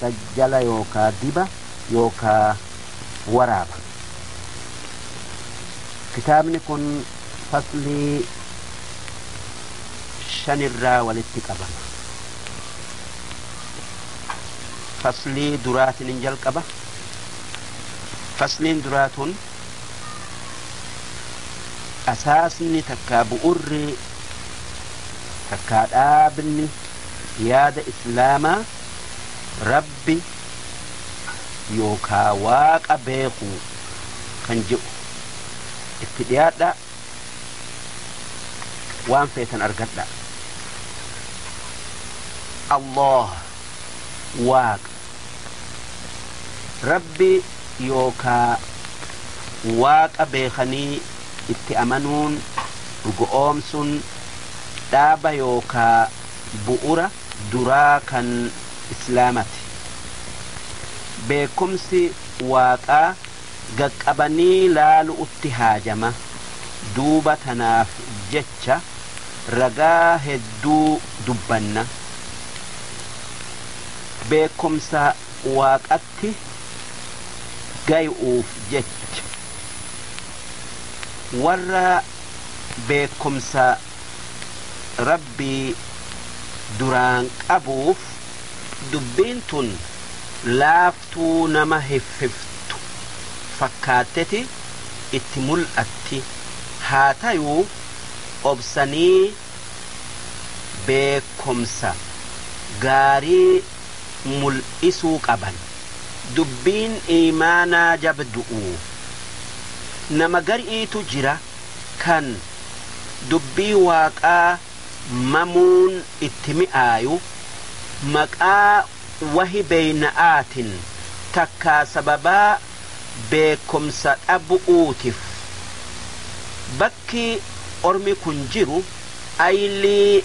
sajjala yookaa diba yookaa waraaba. Kitaabni kun faslii shan irraa walitti qabama. Faslii duraatiin hin jalqaba. Fasliin duraa tun asaasni takkaa bu'urri takkaa dhaabni yaada islaamaa Rabbi yookaa Waaqa beekuu kan je'u. Itti dhiyaadhaa waan feetan argadhaa. Allaah, Waaqa. Rabbi yookaa Waaqa beekanii itti amanuun, dhugo'oomsuun, dhaaba yookaa bu'ura. duraa kan islaamati. Beekkumsi waaqaa gaqqabanii laalu'utti haajama. Duuba tanaaf jecha ragaa hedduu dubbanna. Beekkumsa waaqatti gayu'uuf jecha. Warra beekkumsa. Rabbii duraan qabuuf dubbiin tun laaftuu nama hiffiftu fakkaatteti itti mul'atti. Haa tayuu obsanii beekkomsa gaarii mul'isuu qaban. Dubbiin iimaanaa jabdu'u. Nama gari'iitu jira. kan Dubbii Waaqaa mamuun itti mi'aayu, maqaa wahi beyna'aatin takkaa sababaa beekkomsa dhabu'uutif. Bakki ormi kun jiru aylii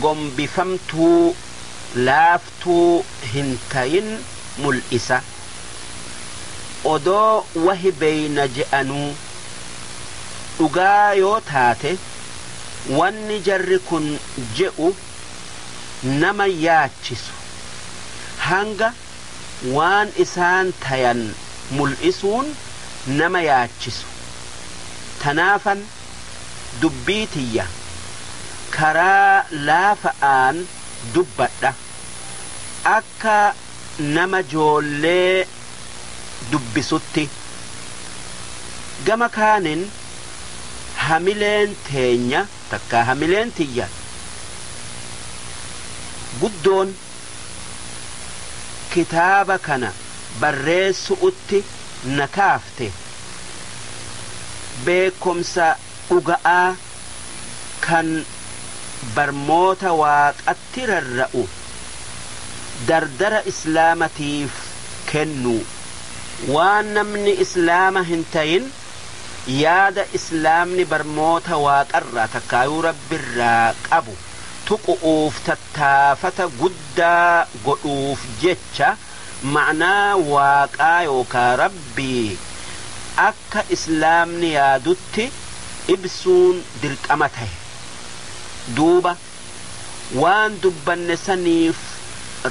gombifamtuu, laaftuu hin tayin mul'isa. odoo wahi beeyna je'anuu dhugaa yoo taate wanni jarri kun je'u nama yaachisu hanga waan isaan tayan mul'isuun nama yaachisu tanaafan dubbii tiyya karaa laafa'aan dubbadha akka nama joollee dubbisutti. Gama kaanin hamileen teenya takkaa hamileen tiyya guddoon kitaaba kana barreessu'utti na kaafte beekkomsa dhuga'aa kan barmoota Waaqa irratti rarra'u dardara Islaamatiif kennuu, waan namni Islaama hin tayin yaada Islaamni barmoota Waaqarraa takkaayuu Rabbirraa qabu tuqu'uuf tattaafata guddaa godhuuf jecha ma'naa Waaqaa yookaa Rabbii akka Islaamni yaadutti ibsuun dirqama tahe. Duuba. waan dubbanne saniif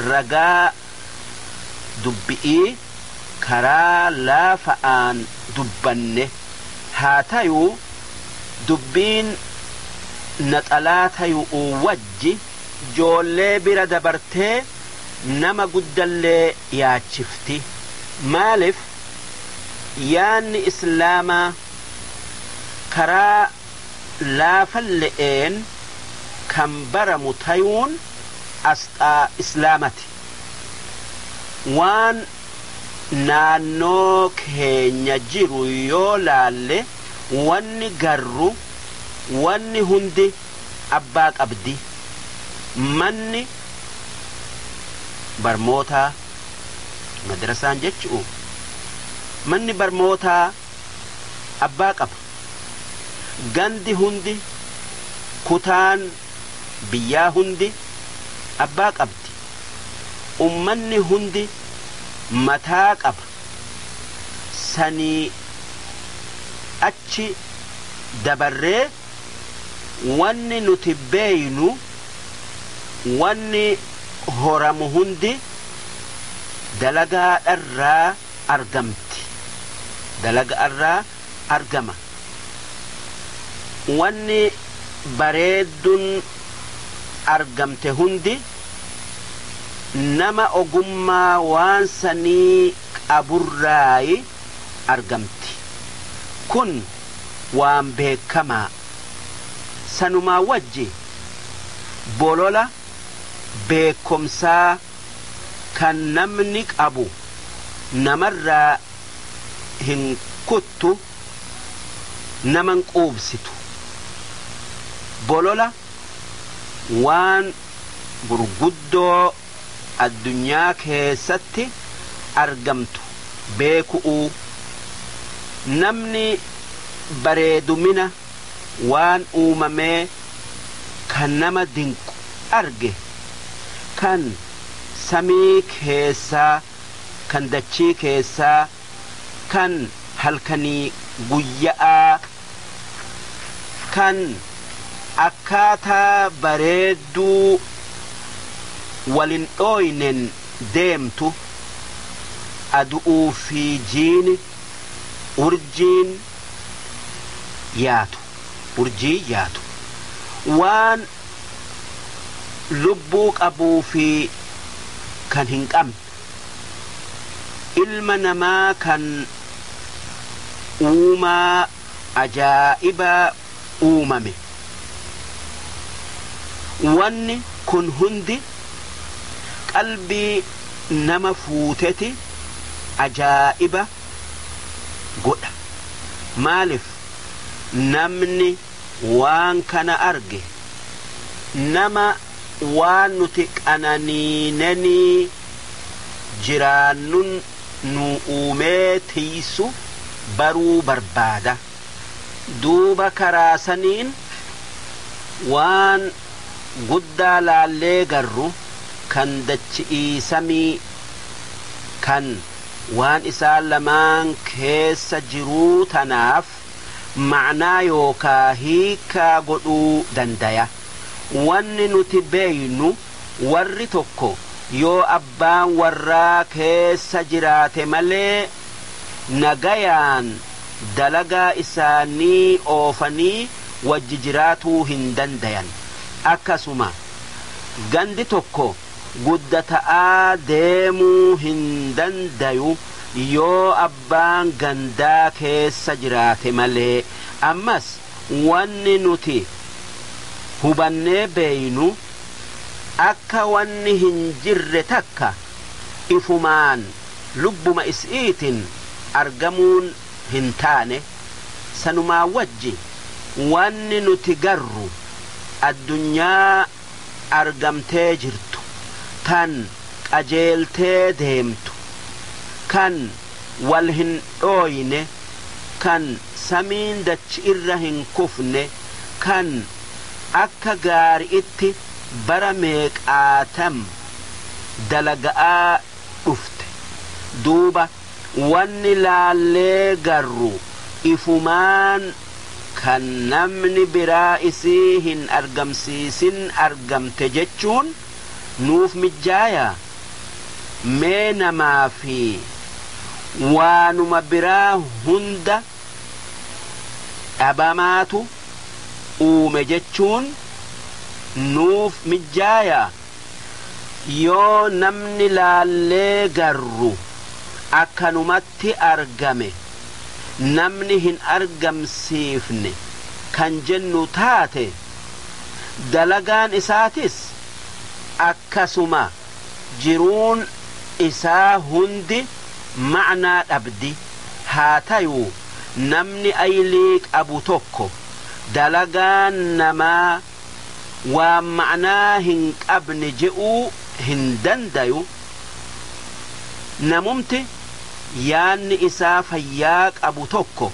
ragaa dubbi'ii karaa laafa'aan dubbanne, haa tayuu dubbiin naxalaa tayu'uu wajji joollee bira dabartee nama guddallee yaachifti, maalif yaanni islaamaa karaa. laafalle'een kan baramu tayuun asxaa Islaamati. Waan naannoo keenya jiru yoo laalle wanni garru wanni hundi abbaa qabdi. Manni barmootaa, madrasaan jechu'u, manni barmootaa abbaa qaba. Gandi hundi, kutaan biyyaa hundi abbaa qabdi. Ummanni hundi mataa qaba. Sanii achi dabarree wanni nuti beeynu wanni horamu hundi dalagaa dharraa argamti. Dalaga'arraa argama. Wanni bareeddun argamte hundi nama ogummaa waan sanii qaburraayi argamti. Kun waan beekkamaa. Sanumaa wajji bolola beekkomsaa. kan namni qabu namarraa hin kuttu naman quubsitu bolola waan gurguddoo addunyaa keessatti argamtu beeku'uu namni bareedumina waan uumamee kan nama dinqu arge, kan samii keessaa, kan dachii keessaa, kan halkanii guyya'aa, kan akkaataa bareedduu wal hin dhooyneen deemtu, adu'uu fi jiini, urjiin, yaatu, urjii yaatu, waan lubbuu qabuu fi kan hin qabne, ilma namaa kan uumaa ajaa'ibaa uumame, wanni kun hundi qalbii nama fuuteti ajaa'iba godha. Maalif namni waan kana arge nama waan nuti qananiinenii jiraannun nuu uumee tiysu baruu barbaada. Duuba karaa saniin waan guddaa laallee garru kan dachi'ii samii kan waan isaan lamaan keessa jiruu tanaaf ma'naa yookaa hiikkaa godhuu dandaya. Wanni nuti beeynu warri tokko yoo abbaan warraa keessa jiraate malee nagayaan dalagaa isaanii oofanii wajji jiraatuu hin dandayan. Akkasuma gandi tokko. guddata'aa deemuu hin dandayu yoo abbaan gandaa keessa jiraate malee. Ammas wanni nuti hubannee beeynu akka wanni hin jirre takka ifumaan lubbuma isi'iitin argamuun hin taane, sanumaa wajji wanni nuti garru addunyaa argamtee jirtu, tan qajeeltee deemtu, kan wal hin dhooyne, kan samiin dachi'irra hin kufne, kan akka gaari'itti bara meeqaatam dalaga'aa dhufte. Duuba. Wanni laallee garru ifumaan kan namni biraa isii hin argamsiisin argamte jechuun nuuf mijjaayaa? Mee namaa fi waanuma biraa hunda dhabamaatu uume jechuun nuuf mijjaayaa? yoo namni laallee garru akkanumatti argame namni hin argamsiifne kan jennu taate dalagaan isaatis akkasuma jiruun isaa hundi ma'naa dhabdi haa tayuu namni aylii qabu tokko dalagaan namaa waan ma'naa hin qabne je'uu hin dandayu, namumti yaanni isaa fayyaa qabu tokko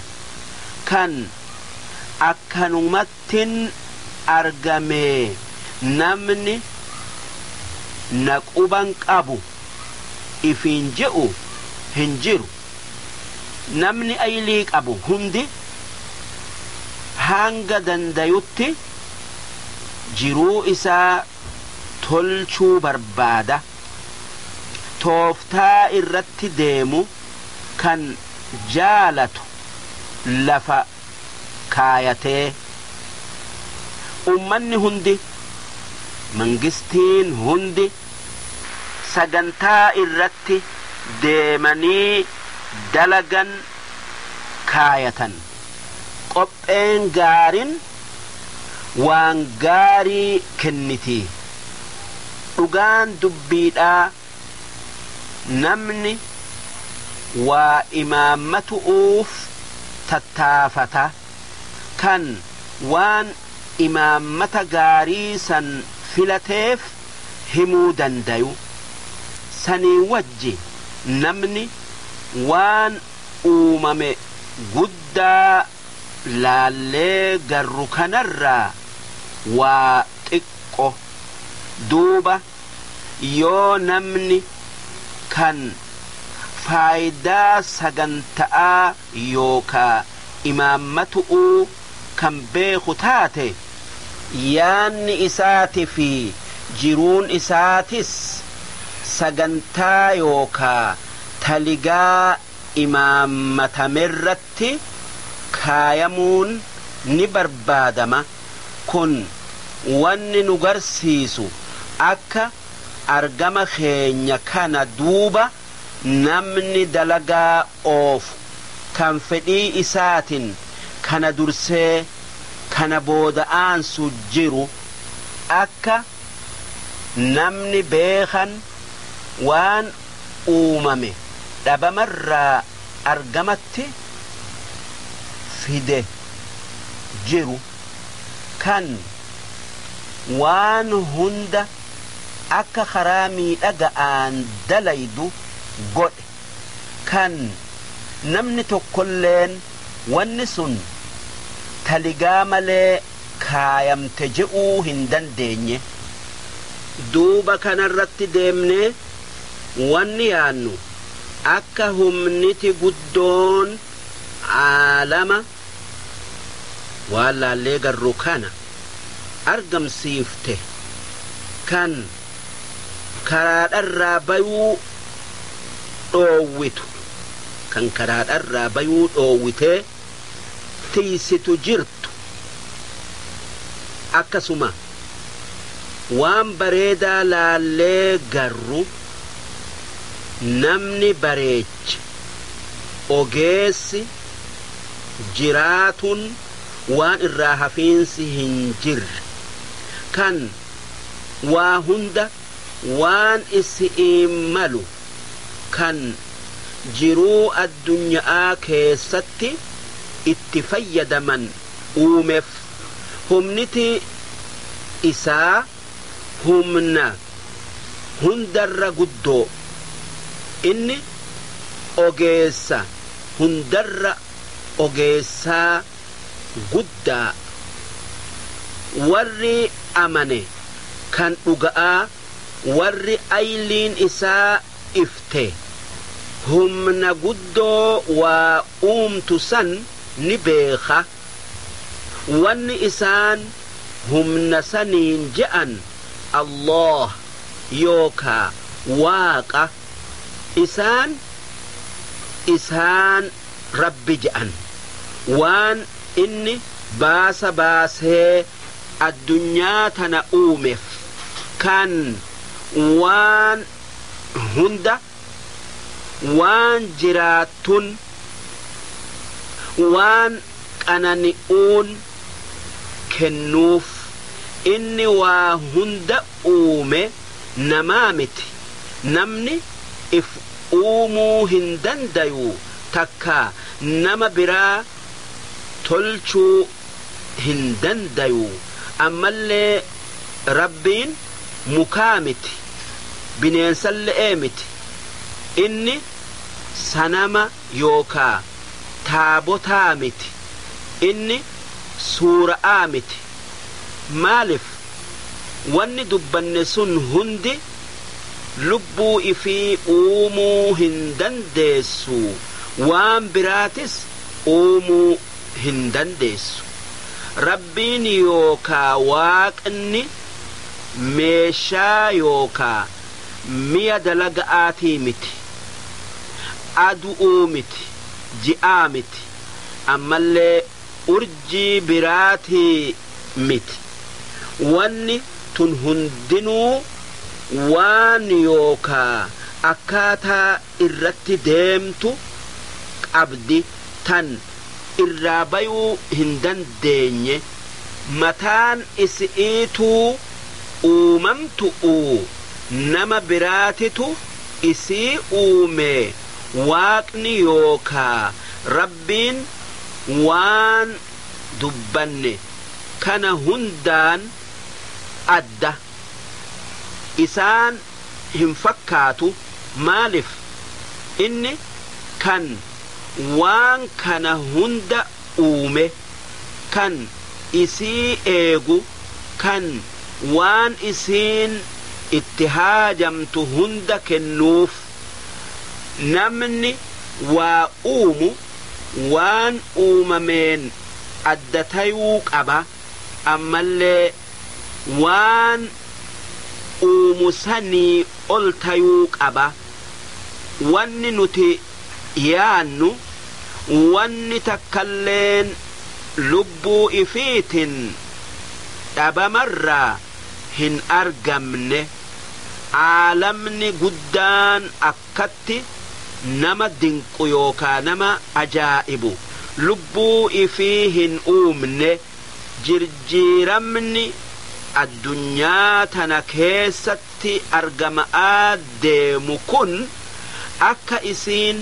kan akkanumattin argamee namni na quban qabu ifiin je'u hin jiru. namni aylii qabu hundi hanga dandayutti jiruu isaa tolchuu barbaada. Tooftaa irratti deemu kan jaalatu lafa kaayatee. Ummanni hundi, mangistiin hundi. sagantaa irratti deemanii dalagan kaayatan. Qopheen gaarin waan gaarii kenniti. Dhugaan dubbiidhaa namni waa imaammatu'uuf tattaafata. kan waan imaammata gaarii san filateef himuu dandayu. Sanii wajji namni waan uumame guddaa laallee garru kanarraa waa xiqqo. Duuba yoo namni kan faaydaa saganta'aa yookaa. imaammatu'uu kan beeku taate, yaanni isaati fi jiruun isaatis sagantaa yookaa taligaa imaammatamerratti kaayamuun ni barbaadama. Kun wanni nu garsiisu akka argama keenya kana duuba namni dalagaa oofu kan fedhii isaatin kana dursee kana booda aansu jiru akka namni beekan waan uumame dhabamarraa argamatti fide jiru kan waan hunda akka karaa miidhaga'aan dalaydu godhe. kan namni tokkolleen wanni sun taligaa malee kaayamte je'uu hin dandeenye. Duuba kanarratti deemnee wanni yaannu akka humniti guddoon aalama waan laallee garru kana argamsiifte kan karaadharraa bayuu dhoowwitu kan karaadharraa bayuu dhoowwitee tiysitu jirtu akkasuma waan bareedaa laallee garru namni bareeche ogeessi jiraatun waan irraa hafiinsi hin jirre kan waa hunda waan isi'iin malu kan jiruu addunya'aa keessatti itti fayyadaman uumef humniti isaa humna hundarra guddoo, Inni ogeessa hundarra ogeessaa guddaa, warri amane kan dhuga'aa warri ayliin isaa ifte humna guddoo waa uumtu san ni beekha. wanni isaan humna saniin je'an Allaah yookaa Waaqa, isaan isaan Rabbi je'an, waan inni baasa baasee addunyaa tana uumef, kan waan hunda. waan jiraattun waan qanani'uun kennuuf, Inni waa hunda uume namaa miti, namni if uumuu hin dandayu takkaa nama biraa tolchuu. hin dandayu ammallee Rabbiin mukaa miti bineensalle'ee miti inni sanama yookaa taabotaa miti inni suura'aa miti maalif wanni dubbanne sun hundi lubbuu ifii uumuu hin dandeessu waan biraatis uumuu hin dandeessu. Rabbiin yookaa Waaqni meeshaa yookaa miya dalaga'aatii miti. Adu'uu miti, ji'aa miti, ammallee urjii biraatii miti. Wanni tun hundinuu waan yookaa akkaataa. irratti deemtu qabdi tan irraa bayuu hin dandeenye mataan isi'iituu uumamtu'uu nama biraatitu isii uumee waaqni yookaa Rabbiin waan dubbanne kana hundaan adda isaan hin fakkaatu maalif inni kan waan kana hunda uume kan isii eegu kan waan isiin itti haajamtu hunda kennuuf namni waa uumu waan uumameen adda tayuu qaba ammallee waan uumu sanii ol tayuu qaba. Wanni nuti yaannu wanni takkalleen lubbuu ifiitin dhabamarraa hin argamne. Aalamni guddaan akkatti nama dinqu yookaa nama ajaa'ibu lubbuu ifii hin uumne. jirjiiramni addunyaa tana keessatti argama'aa deemu kun akka isiin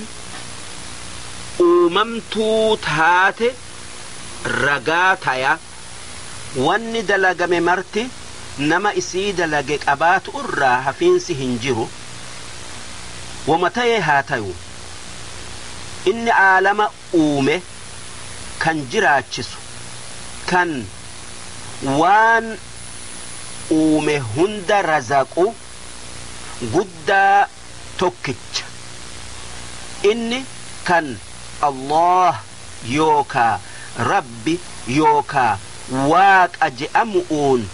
uumamtuu taate ragaa taya. Wanni dalagame marti nama isii dalage qabaatu'urraa hafiinsi hin jiru. Woma taye haa tayu, inni aalama. uume, kan jiraachisu, kan waan uume hunda razaqu, guddaa tokkicha. Inni kan Allaah yookaa Rabbi yookaa Waaqa je'amu'uun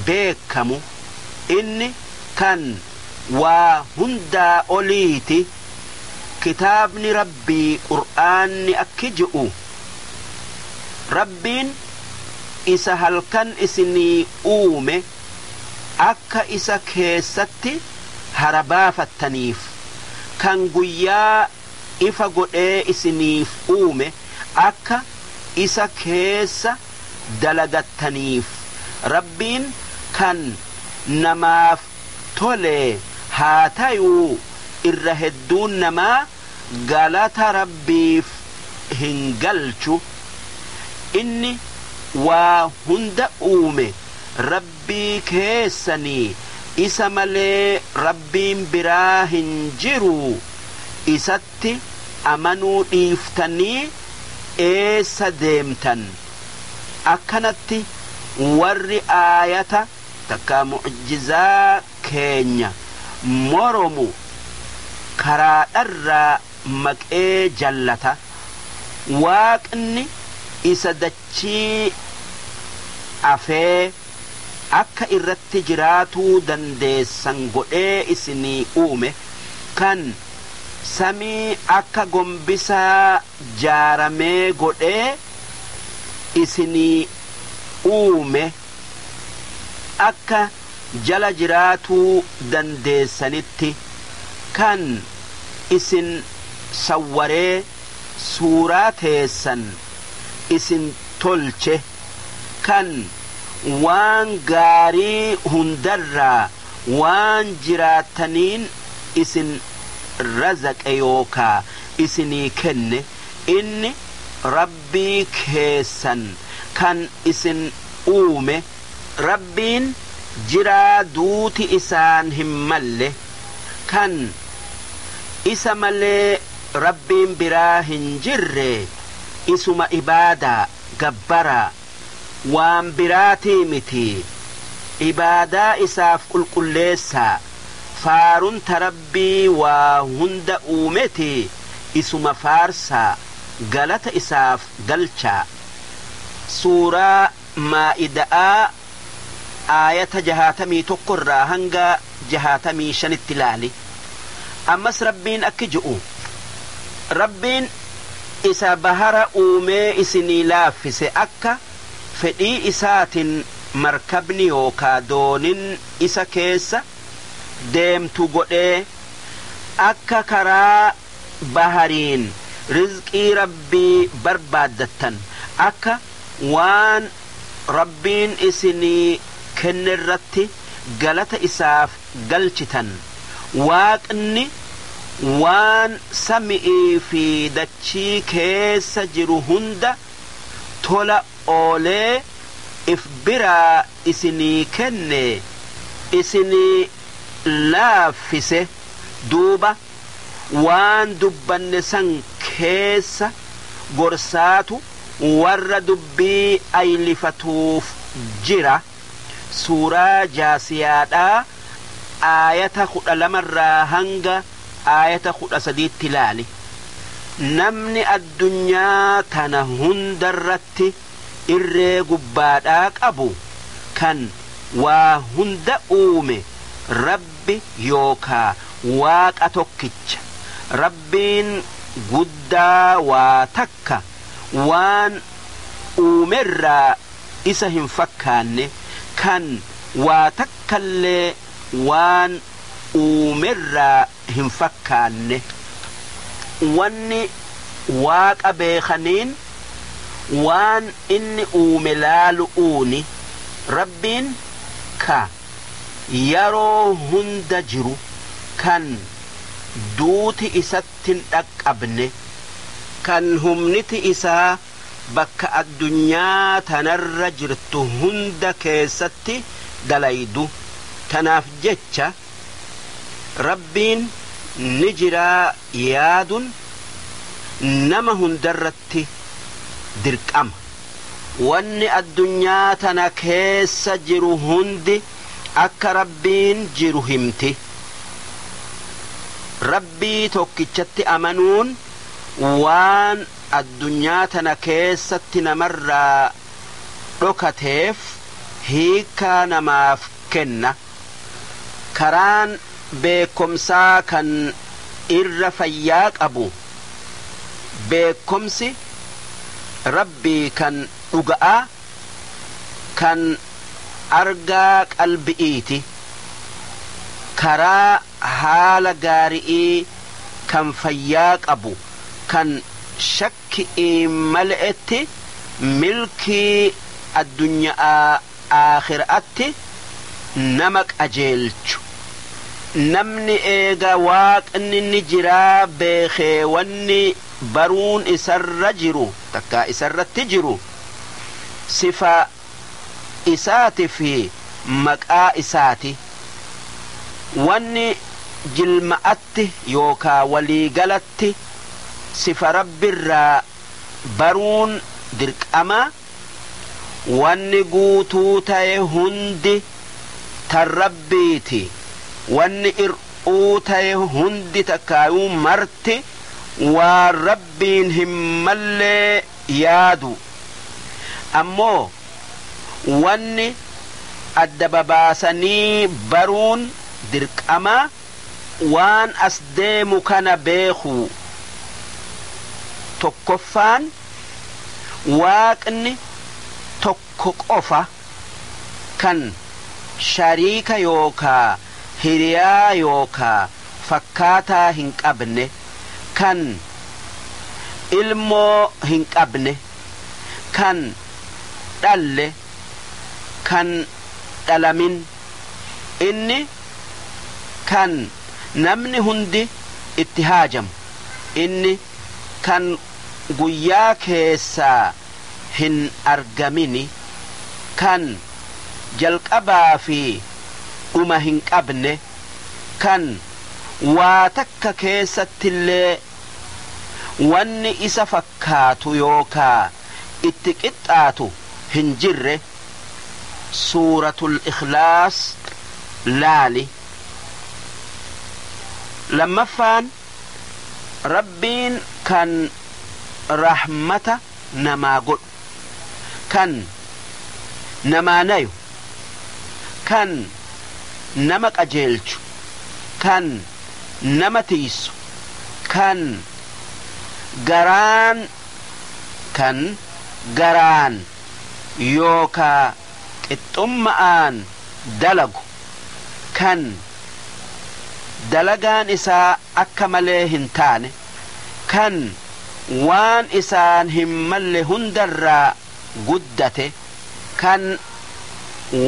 beekkamu, Inni kan waa hundaa oliiti. Kitaabni Rabbii Qur'aanni akki je'u, Rabbiin isa halkan isinii uume akka isa keessatti hara baafattaniif, kan guyyaa ifa godhee isiniif uume akka isa keessa dalagattaniif, Rabbiin kan namaaf tolee haa tayuu irra hedduun namaa galata rabbiif hin galchu inni waa hunda uume rabbii keessanii isa malee rabbiin biraa hin jiruu isatti amanuu dhiiftanii eessa deemtan akkanatti warri aayata takkaa mu'jizaa keenya moromu karaadharraa maqee jallata. Waaqni isa dachii afee akka irratti jiraatuu dandeessan godhee isinii uume, kan samii akka gombisaa jaaramee godhee isinii uume, akka jala jiraatuu dandeessanitti kan isin sawwaree suuraa teessan isin tolche, kan waan gaarii hundarraa waan jiraattaniin isin razaqe yookaa isinii kenne, inni, Rabbii keessan kan isin uume. Rabbiin jiraa duuti isaan hin malle, kan Isa malee Rabbiin biraa hin jirre, Isuma ibaadaa, gabbaraa, waan biraatii miti. Ibaadaa Isaaf qulqulleessaa, faarun ta Rabbii waa hunda uumeti isuma faarsaa, galata isaaf galchaa. Suuraa Maa'ida'aa aayata 61 irraa hanga 65tti laali. Ammas Rabbiin akki ju'u, Rabbiin isa bahara uumee isinii laaffise akka fedhii isaatin markabni yookaa doonin isa keessa, deemtu godhee, akka karaa bahariin rizqii Rabbii barbaaddattan, akka waan Rabbiin isinii kennerratti galata Isaaf galchitan, Waaqni waan sami'ii fi dachii keessa jiru hunda tola oolee if biraa isinii kenne isinii laaffise, duuba waan dubbanne san keessa gorsaatu warra dubbii aylifatuuf jira, suuraa jaasiyaadhaa aayata 12 irraa hanga aayata 13tti laali, namni addunyaa tana hundarratti irree gubbaadhaa qabu kan waa hunda uume Rabbi yookaa Waaqa tokkicha. Rabbiin guddaa waa takka waan uumerraa isa hin fakkaanne, kan waa takkallee waan uumerraa hin fakkaanne. Wanni Waaqa beekhaniin waan Inni uume laalu'uuni. Rabbiin ka yaroo hunda jiru, kan duuti Isatti hin dhaqqabne, kan humniti Isaa bakka addunyaa tanarra jirtu hunda keessatti dalaydu, tanaaf jecha, Rabbiin ni jiraa yaadun nama hundarratti dirqama. Wanni addunyaa tana keessa jiru hundi akka Rabbiin jiru himti. Rabbii tokkichatti amanuun waan addunyaa tana keessatti namarraa dhokateef hiikkaa namaaf kenna. Karaan beekkomsaa kan irra fayyaa qabu beekkomsi Rabbii kan dhuga'aa kan argaa qalbi'iiti. Karaa haala gaari'ii kan fayyaa qabu kan shakki'iin male'etti milkii addunya'aa, aakhira'atti nama qajeelchu. Namni eega Waaqni ni jiraa beekhee wanni baruun isarra jiru takkaa isarratti jiru sifa Isaati fi maqaa Isaati. Wanni jilma'atti yookaa walii galatti sifa Rabbirraa baruun dirqama. Wanni guutuu taye hundi tan Rabbiiti, wanni ir'uu taye hundi takkaayuu marti waan Rabbiin hin mallee yaadu. Ammoo wanni adda babaasanii baruun dirqama waan as deemu kana beekuu. 1ffaan. Waaqni tokko qofa kan shariika yookaa hiriyaa yookaa fakkaataa hin qabne, kan ilmoo hin qabne, kan dhalle, kan dhalamin, Inni kan namni hundi itti haajamu, Inni. kan guyyaa keessaa hin argamini, kan jalqabaa fi dhuma hin qabne, kan waa takka keessattillee wanni isa fakkaatu yookaa itti qixxaatu hin jirre, Suuratul Ikhlaas laali. Lammaffaan. Rabbiin kan rahmata namaa godhu, kan namaa nayu, kan nama qajeelchu, kan nama tiysu, kan garaan kan garaan yookaa. qixxumma'aan dalagu, kan dalagaan isaa akka malee hin taane, kan waan isaan hin malle hunda irraa guddate, kan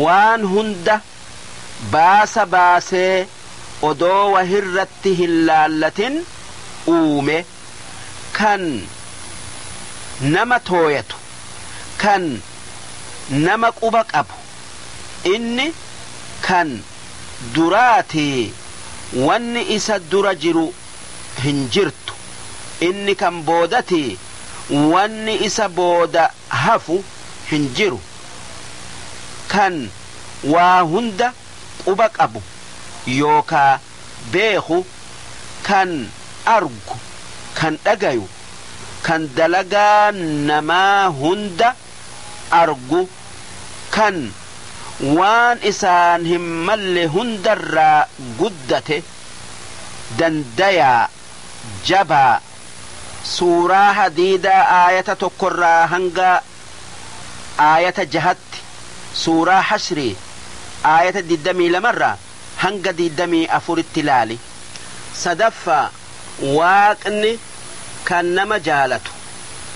waan hunda baasa baasee odoo wahirratti hin laallatin uume. kan nama tooyatu, kan nama quba qabu, inni kan duraati wanni isa dura jiru hin jirtu, inni kan boodati wanni isa booda hafu hin jiru, kan waa hunda quba qabu yookaa beeku, kan argu, kan dhagayu, kan dalagaa namaa hunda argu, kan waan isaan hin malle hundarraa guddate, dandayaa, jabaa, suuraa hadiidaa aayata tokkorraa hanga aayata jahatti, suuraa hashrii aayata digdamii lamarraa, 22-24tti ilaali. Sadaffaa, Waaqni kan nama jaalatu,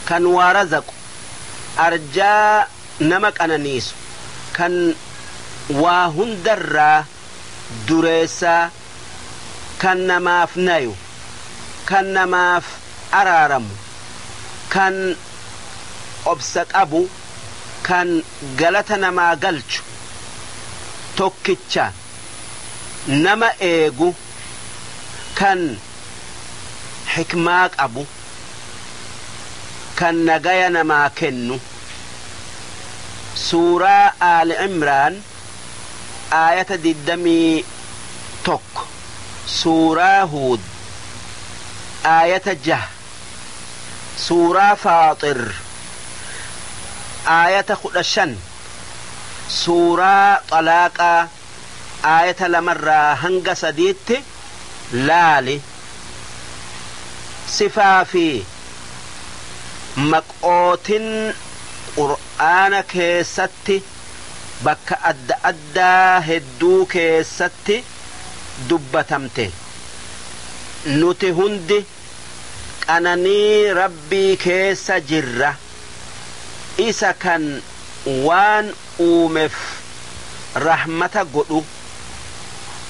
kan waa razaqu, arjaa nama qananiisu, kan waa hundarraa dureessaa, kan namaaf nayu, kan namaaf araaramu, kan obsa qabu, kan galata namaa galchu, tokkicha nama eegu, kan hikmaa qabu, kan nagaya namaa kennu. Suuraa Aali Imraan aayata 21, Suuraa Huud aayata 6. suuraa faaxir aayata 15 suuraa xalaaqaa aayata 2 irraa hanga 3tti laali sifaa fi maqootin qur'aana keessatti bakka adda addaa hedduu keessatti dubbatamte nuti hundi qananii Rabbii keessa jirra. Isa kan waan uumef rahmata godhu.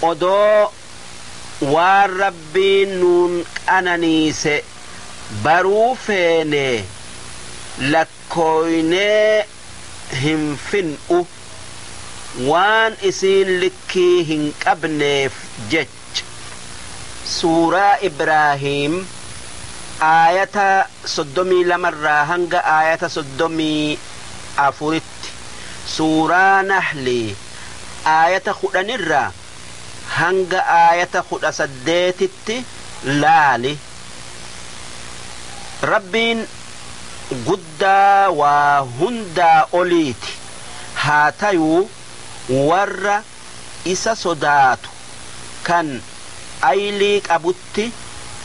Odoo waan Rabbiin nuun qananiise baruu feenee lakkooynee hin fin'u. Waan isiin likkii hin qabneef jecha. H. Suuraa Ibraahiim aayata 32 irraa hanga aayata 34 tti, Suuraa Nahli aayata 10 irraa hanga aayata 18 tti laali. Rabbiin guddaa waa hundaa oliiti, haa tayuu warra. isa sodaatu kan aylii qabutti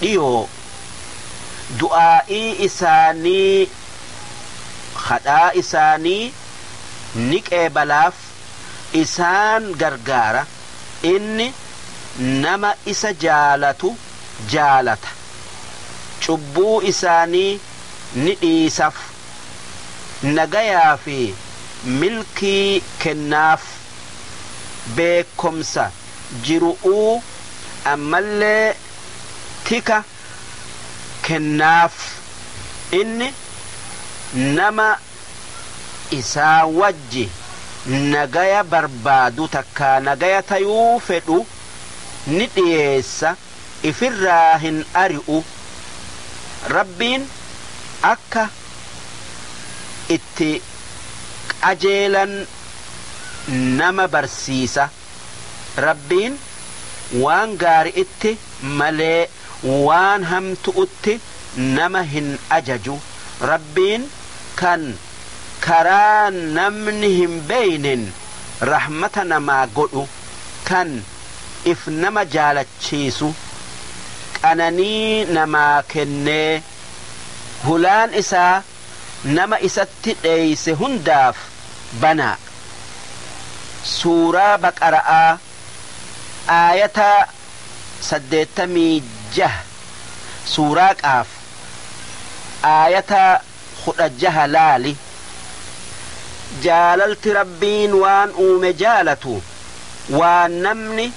dhiyoo du'aa'ii isaanii khadhaa isaanii ni qeebalaaf isaan gargaara inni nama isa jaalatu jaalata cubbuu isaanii ni dhiisaf nagayaa fi milkii kennaaf. beekkomsa jiru'uu ammallee tika kennaaf, inni nama isaa wajji nagaya barbaadu takkaa nagaya tayuu fedhu ni dhiyeessa, ifirraa hin ari'u, Rabbiin akka itti qajeelan. nama barsiisa. Rabbiin waan gaari'itti malee waan hamtu'utti nama hin ajaju. Rabbiin kan karaa namni hin beeynen rahmata namaa godhu, kan if nama jaalachiisu, qananii namaa kennee, hulaan isaa nama isatti dheeyse hundaaf banaa. Suuraa Baqara'aa aayataa 86 Suuraa Qaaf aayataa 16 laali. Jaalalti Rabbiin waan uume jaalatu waan namni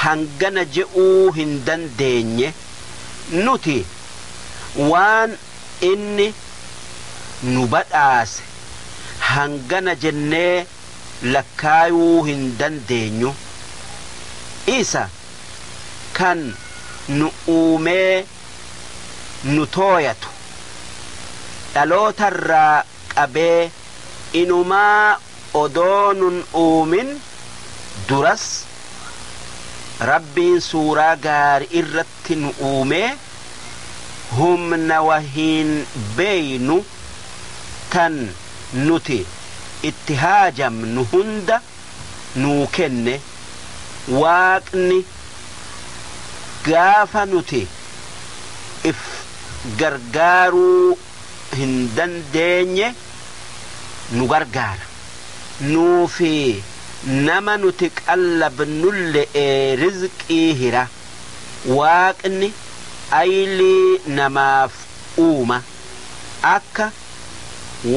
hangana je'uu hin dandeenye. Nuti waan Inni nu badhaase hangana jennee lakkaayuu hin dandeenyu. Isa kan nu uumee nu tooyatu, dhalootarraa qabee inumaa odoo nun uumin duras Rabbiin suuraa gaari'irratti irratti nu uume humna wahiin beeynu tan nuti itti haajamnu hunda nuu kenne. Waaqni gaafa nuti if gargaaruu hin dandeenye nu gargaara. Nuufi nama nuti qallabnulle'ee rizqii hira. Waaqni aylii namaaf uuma, akka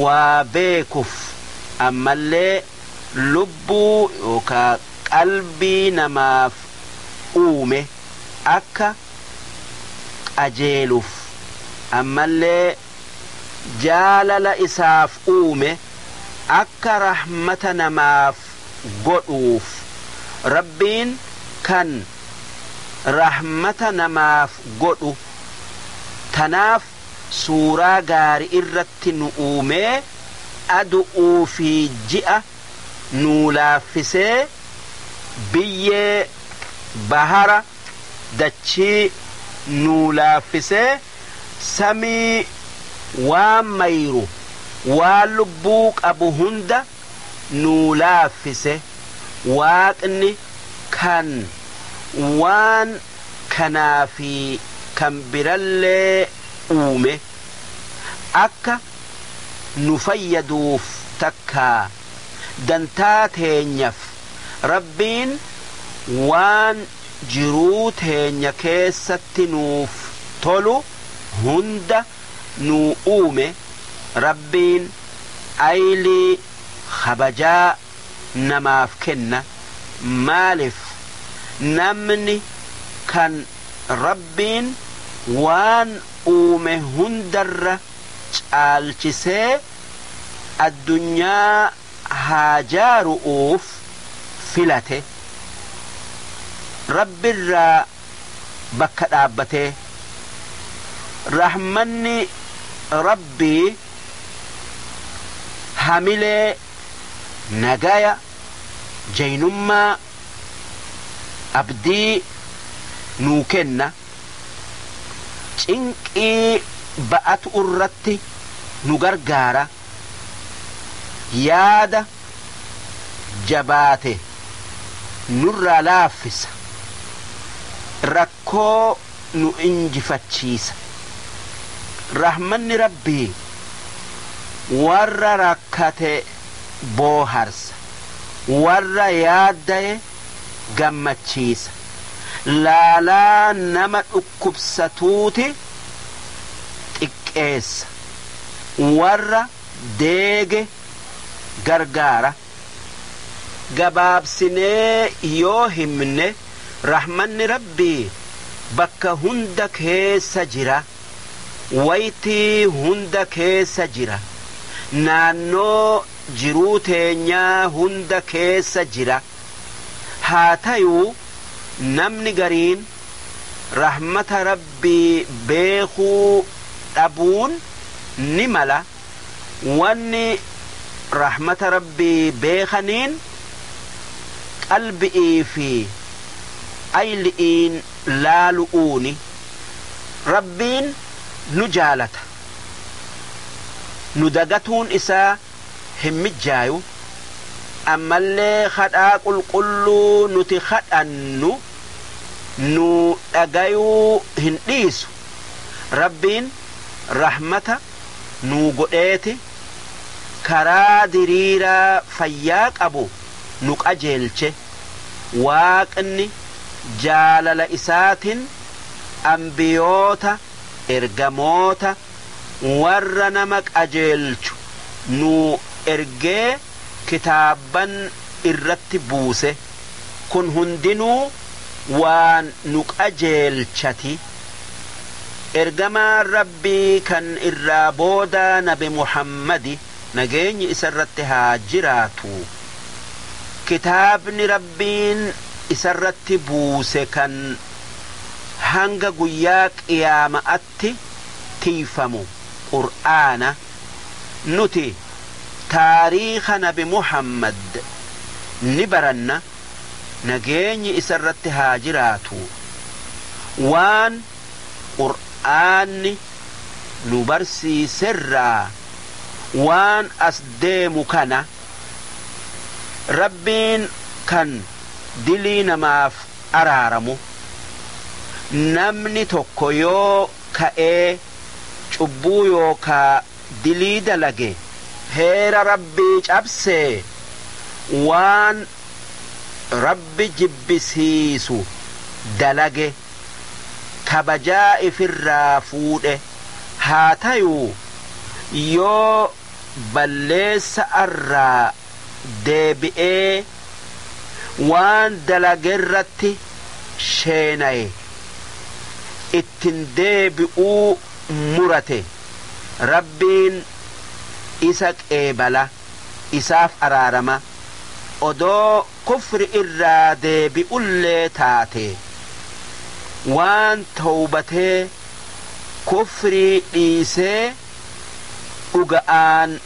waa beekuf, ammallee lubbuu yookaa qalbii namaaf uume akka qajeeluf, ammallee jaalala isaaf uume akka rahmata namaaf godhuuf. Rabbiin kan rahmata namaaf godhu. Tanaaf suuraa gaari'irratti nu uumee, adu'uu fi ji'a nuu laaffisee, biyyee, bahara, dachii, nuu laaffisee, samii, waan mayru, waan lubbuu qabu hunda, nuu laaffise Waaqni kan waan kanaa fi kan birallee uume akka nu fayyaduuf takkaa dantaa teenyaf Rabbiin waan jiruu teenya keessatti nuuf tolu hunda nuu uume Rabbiin aylii kabajaa namaaf kenna maalif namni kan Rabbiin waan uume hundarra caalchisee addunyaa haa jaaru'uuf filate Rabbirraa bakka dhaabbatee rahmanni Rabbii hamilee nagaya, jaynummaa, abdii nuu kenna, cinqii ba'atu'urratti nu gargaara. yaada jabaate nurraa laaffisa, rakkoo nu injifachiisa. Rahmanni Rabbii warra rakkate booharsa, warra yaaddaye gammachiisa. Laalaa nama dhukkubsatuuti xiqqeessa. warra deege gargaara. Gabaabsinee yoo himne rahmanni Rabbii bakka hunda keessa jira, waytii hunda keessa jira, naannoo jiruu teenyaa hunda keessa jira. Haa tayuu namni gariin. rahmata Rabbii beekuu dhabuun ni mala, wanni rahmata Rabbii beekaniin qalbi'ii fi ayli'iin laalu'uuni. Rabbiin nu jaalata, nu dagatuun isaa hin mijjaayu, ammallee khadhaa qulqulluu nuti khadhannu, nu dhagayuu hin dhiisu rabbiin rahmata nuu godheeti karaa diriiraa fayyaa qabu nu qajeelche waaqni jaalala isaatin anbiyoota ergamoota warra nama qajeelchu nuu ergee kitaabban irratti buuse. kun hundinuu waan nu qajeelchati. Ergamaan Rabbii kan irraa boodaa nabi Muhammadi nageenyi isarratti haa jiraatu kitaabni Rabbiin isarratti buuse kan hanga guyyaa qiyaama'atti irratti tiyfamu Qur'aana. Nuti taariikha nabi Muhammad ni baranna, nageenyi isarratti haa jiraatu, waan Qur'aanni nu barsiiserraa waan as deemu kana Rabbiin kan dilii namaaf araaramu. Namni tokko yoo ka'ee cubbuu yookaa dilii dalage heera Rabbii cabsee waan Rabbi jibbisiisu dalage, kabajaa ifirraa fuudhe, haa tayuu yoo balleessa'arraa deebi'ee waan dalagerratti sheenaye ittin deebi'uu murate Rabbiin isa qeebala, isaaf araarama, odoo kufri irraa deebi'ullee taatee, waan towbatee kufrii dhiisee dhuga'aan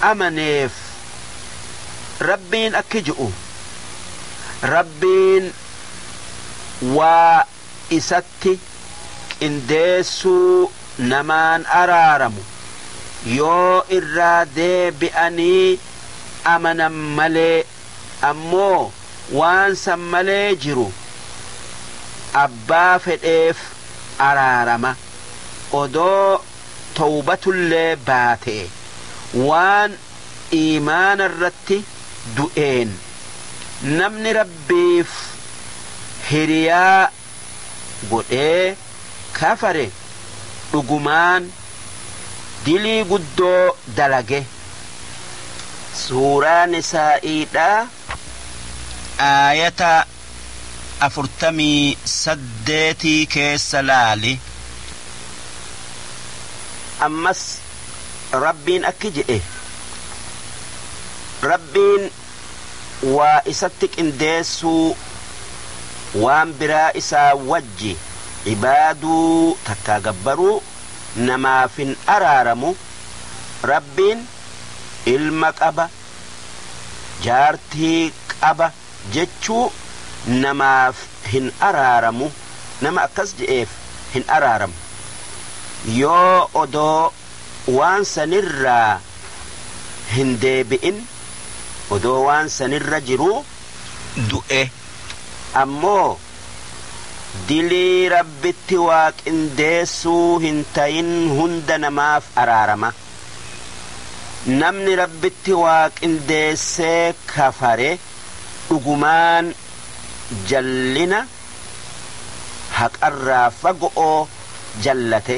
amaneef Rabbiin akki ju'u, Rabbiin waa Isatti qindeessuu namaan araaramu, yoo irraa deebi'anii amanan malee, ammoo waan san malee jiru abbaa fedheef araarama, odoo. tawbatullee baatee waan iimaanarratti du'een namni Rabbiif hiriyaa godhee kafare dhugumaan dilii guddoo dalage. Suuraa Nisaa'iidhaa Aayata. afurtamii saddeetii keessa laali. Ammas Rabbiin akki je'e, Rabbiin waa Isatti qindeessuu, waan biraa Isaa wajji ibaaduu takkaa gabbaruu namaaf hin araaramu, Rabbiin ilma qaba, jaartii qaba, jechuu namaaf hin araaramu nama akkas je'eef hin araaramu yoo odoo waan sanirraa hin deebi'in odoo waan sanirra jiruu du'e ammoo dilii Rabbitti waa qindeessuu hin tayin hunda namaaf araarama. Namni Rabbitti waa qindeessee kafare dhugumaan jallina haqarraa fago'o jallate.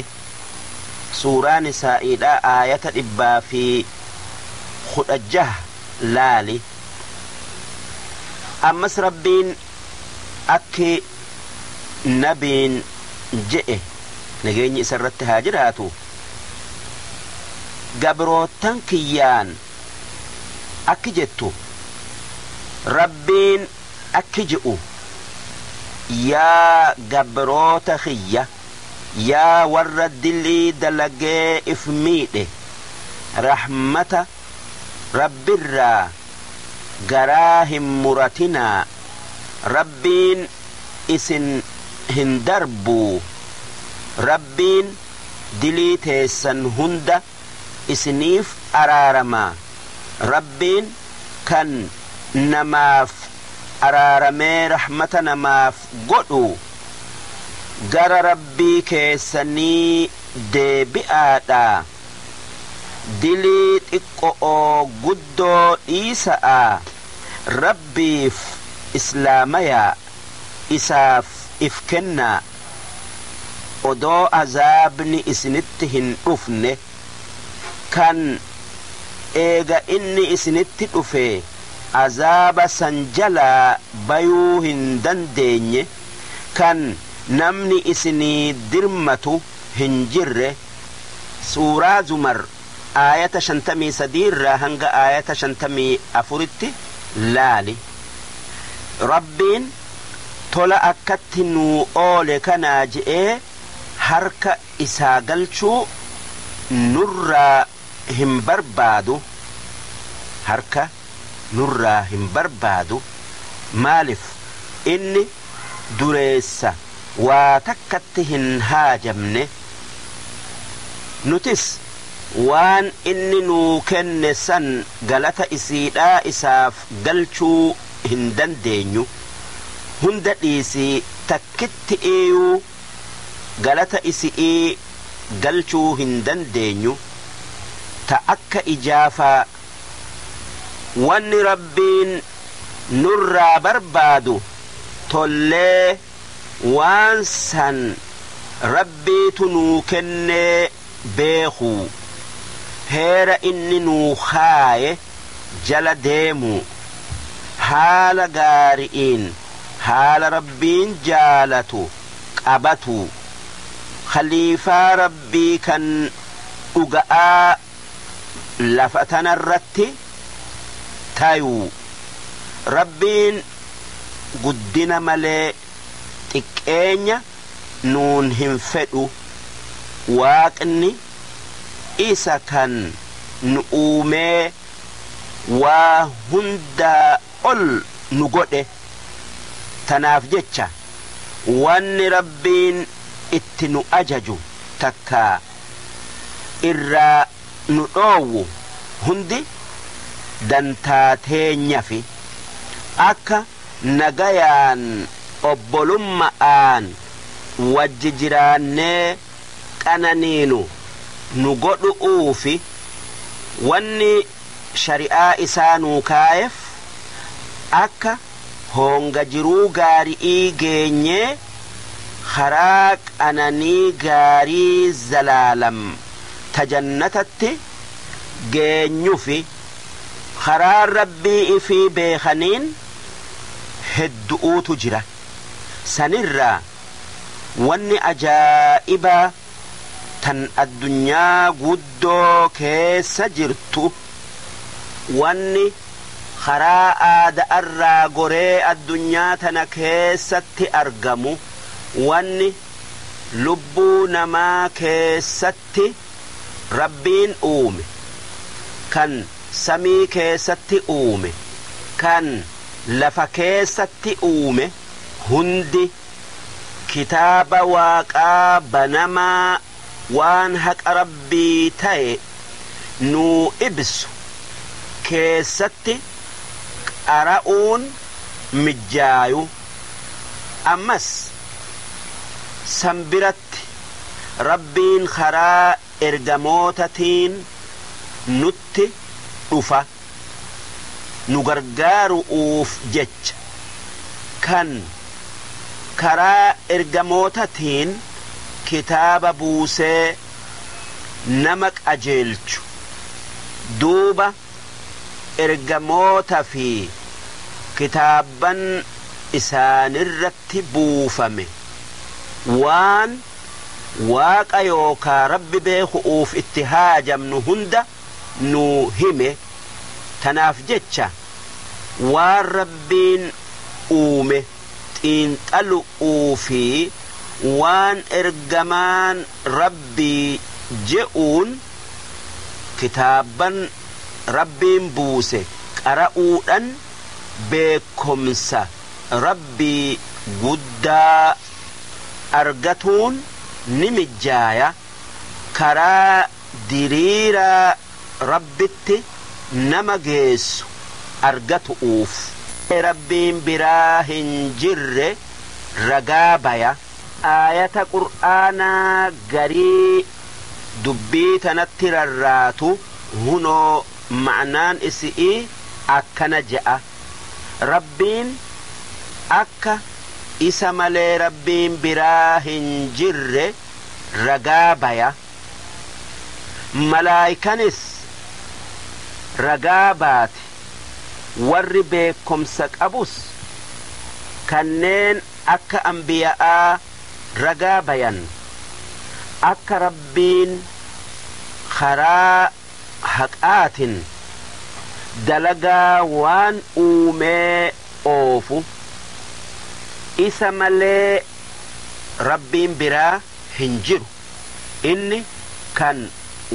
Suuraa Nisaa'iidhaa aayata 116 laali. Ammas Rabbiin akki Nabiin je'e nageenyi isarratti haa jiraatu. gabroottan kiyyaan akki jettu, Rabbiin akki je'u, Yaa gabroota kiyya, yaa warra dilii dalagee if miidhe, rahmata Rabbirraa garaa hin muratinaa, Rabbiin isin hin darbuu, Rabbiin. dilii teessan hunda isiniif araarama. Rabbiin kan namaaf araaramee rahmata namaaf godhu gara Rabbii keessanii deebi'aadhaa. Dilii xiqqo'oo guddoo dhiisa'aa Rabbiif islaamayaa, isaaf if kennaa. odoo azaabni isinitti hin dhufne kan eega inni isinitti dhufee azaaba san jalaa bayuu hin dandeenye kan namni isinii dirmatu hin jirre, Suuraa Zumar. aayata 53 irraa hanga aayata 54tti laali. Rabbiin tola akkatti nuu oole kanaa je'ee harka Isaa galchuu nurraa hin barbaadu. Harka. nurraa hin barbaadu maalif inni dureessa waa takkatti hin haajamne nutis waan inni nuu kenne san galata isiidhaa isaaf galchuu hin dandeenyu hunda dhiisii takkitti'iiyuu galata isi'ii galchuu hin dandeenyu ta akka ijaafaa wanni Rabbiin nurraa barbaadu tollee waan san Rabbiitu nuu kennee beekuu, heera inni nuu kaaye jala deemuu, haala gaari'iin haala Rabbiin jaalatu qabatuu, khaliifaa Rabbii kan dhuga'aa, lafa tana irratti tayuu Rabbiin guddina malee xiqqeenya nuun hin fedhu, Waaqni Isa kan nu uumee waa hundaa ol nu godhe, tanaaf jecha wanni Rabbiin itti nu ajaju takka. irraa nu dhoowwu hundi dantaa teenyafi. Akka nagayaan obbolumma'aan wajji jiraannee qananiinu nu godhu'uufi wanni shari'aa isaa nuu kaayeef akka. hoonga jiruu gaari'ii geenyee karaa qananii gaarii zalaalam ta jannatatti geenyufi karaa Rabbii ifii beekaniin heddu'uutu jira. Sanirraa wanni ajaa'ibaa. tan addunyaa guddoo keessa jirtu wanni karaa aada'arraa goree addunyaa tana keessatti argamu wanni lubbuu namaa keessatti Rabbiin uume kan samii keessatti uume kan lafa keessatti uume hundi Kitaaba Waaqaa banamaa waan haqa Rabbii taye nuu ibsu keessatti qara'uun mijjaayu. Ammas san biratti Rabbiin karaa ergamoota tiin nutti dhufa nu gargaaru'uuf jecha, kan karaa ergamoota tiin kitaaba buusee nama qajeelchu, duuba ergamoota fi kitaabban isaanirratti buufame waan. Waaqa yookaa Rabbi beekhu'uuf itti haajamnu hunda nuu hime. Tanaaf jecha waan Rabbiin uume xiinxalu'uu fi waan Ergamaan Rabbii je'uun kitaabban Rabbiin buuse qara'uudhan beekkomsa Rabbii guddaa argatuun ni mijjaaya, karaa diriiraa Rabbitti nama geessu argatu'uuf. Rabbiin biraa hin jirre ragaa baya. Aayata Qur'aanaa garii dubbii tanatti rarraatu, hunoo ma'naan isi'ii akkana je'a. Rabbiin akka Isa malee Rabbiin biraa hin jirre ragaa baya, malaaykanis ragaa baate, warri beekkomsa qabus kanneen akka anbiya'aa ragaa bayan, akka Rabbiin karaa haqaatin dalagaa waan uumee oofu Isa malee Rabbiin biraa hin jiru. Inni kan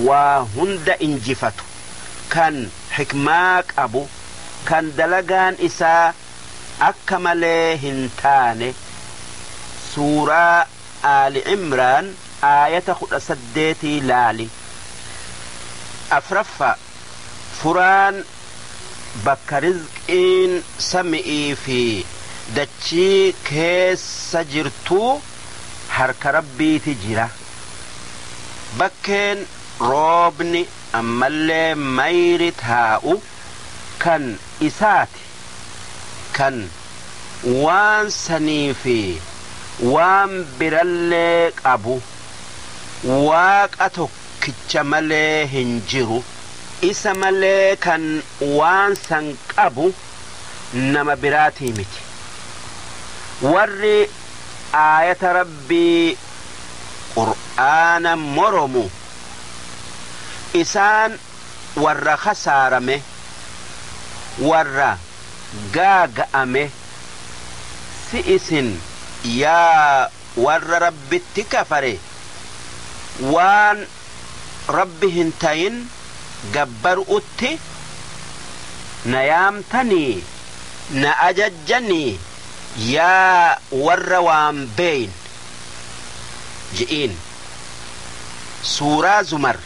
waa hunda injifatu, kan hikmaa qabu, kan dalagaan isaa akka malee hin taane Suuraa. Aali Imraan aayata 18 laali. 4ffaa Furaan bakka rizqiin sami'ii fi dachii keessa jirtuu harka Rabbiiti jira. Bakkeen roobni ammallee mayri taa'u kan Isaati. kan waan sanii fi waan birallee qabu Waaqa tokkicha malee hin jiru, isa malee kan waan san qabu nama biraatii miti. Warri aayata Rabbii, Qur'aana, moromu, isaan. warra khasaarame, warra gaaga'ame, si isin yaa warra Rabbitti kafare, waan Rabbi hin tayin gabbaru'utti na yaamtanii, na ajajjanii, yaa warra waan beeyne! je'iin. Suuraa Zumar.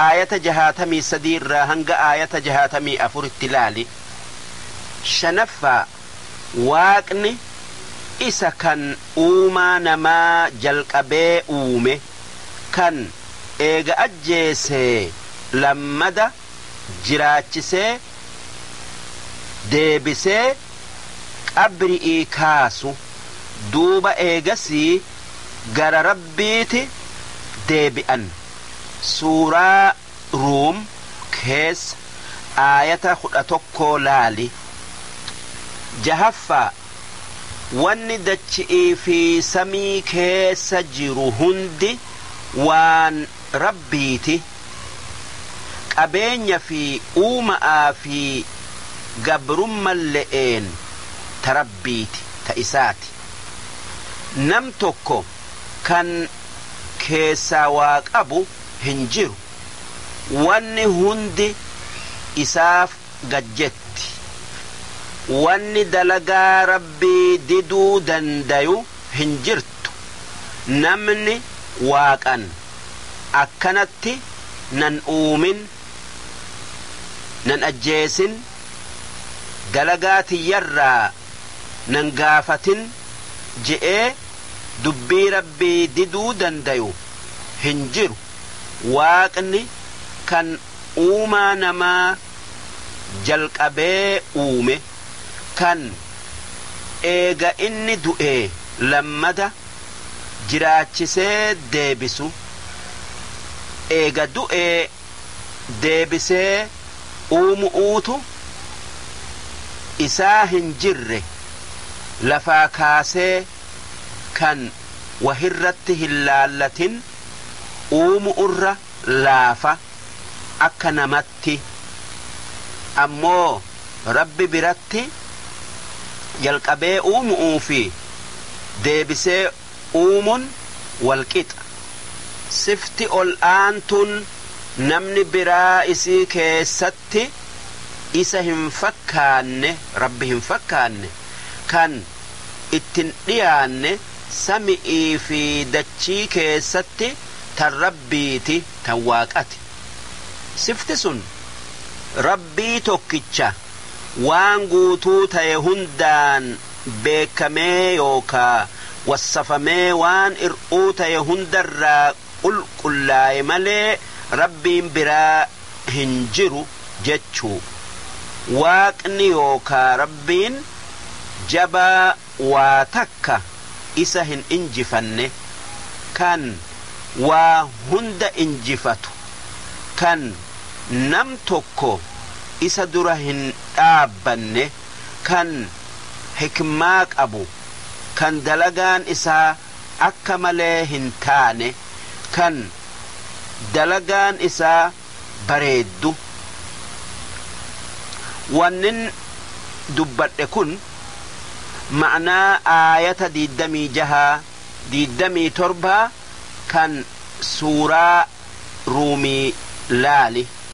aayata 63 irraa hanga aayata 64tti laali. 5ffaa Waaqni Isa kan uumaa namaa jalqabee uume, kan eega ajjeesee lammada jiraachisee deebisee qabri'ii kaasu, duuba eegasii, gara Rabbiiti deebi'an. Suuraa Ruum keessa aayata 11 laali. 6ffaa Wanni dachi'ii fi samii keessa jiru hundi waan Rabbiiti. Qabeenya fi uuma'aa fi gabrummalle'een ta Rabbiiti, ta Isaati. Nam tokko kan keessaa waa qabu hin jiru. Wanni hundi isaaf gad jetti. Wanni dalagaa Rabbii diduu dandayu hin jirtu. Namni Waaqan akkanatti nan uumin, nan ajjeesin, dalagaa tiyyarraa nan gaafatin je'ee dubbii Rabbii diduu dandayu hin jiru, Waaqni kan uumaa namaa jalqabee uume, kan eega inni du'ee lammada jiraachisee deebisu, eega du'ee. deebisee uumu'uutu isaa hin jirre lafaa kaasee kan wahirratti hin laallatin uumu'urra laafa akka namatti ammoo Rabbi biratti jalqabee uumu'uu fi deebisee uumun walqixa. Sifti ol'aantuun namni biraa isii keessatti Isa hin fakkaanne, Rabbi hin fakkaanne, kan itti hin dhiyaanne sami'ii fi dachii keessatti tan Rabbiiti, tan Waaqati. Sifti sun Rabbii tokkicha waan guutuu taye hundaan. beekkamee yookaa wassafamee waan ir'uu taye hundarraa qulqullaaye malee Rabbiin biraa hin jiru jechuu. Waaqni yookaa Rabbiin jabaa waa takka isa hin injifanne, kan waa hunda injifatu, kan nam tokko isa dura hin dhaabbanne. kan hikmaa qabu, kan dalagaan isaa akka malee hin taane, kan dalagaan isaa bareeddu. Wannin dubbadhe kun ma'naa aayata 26, 27 kan suuraa Ruumii laali.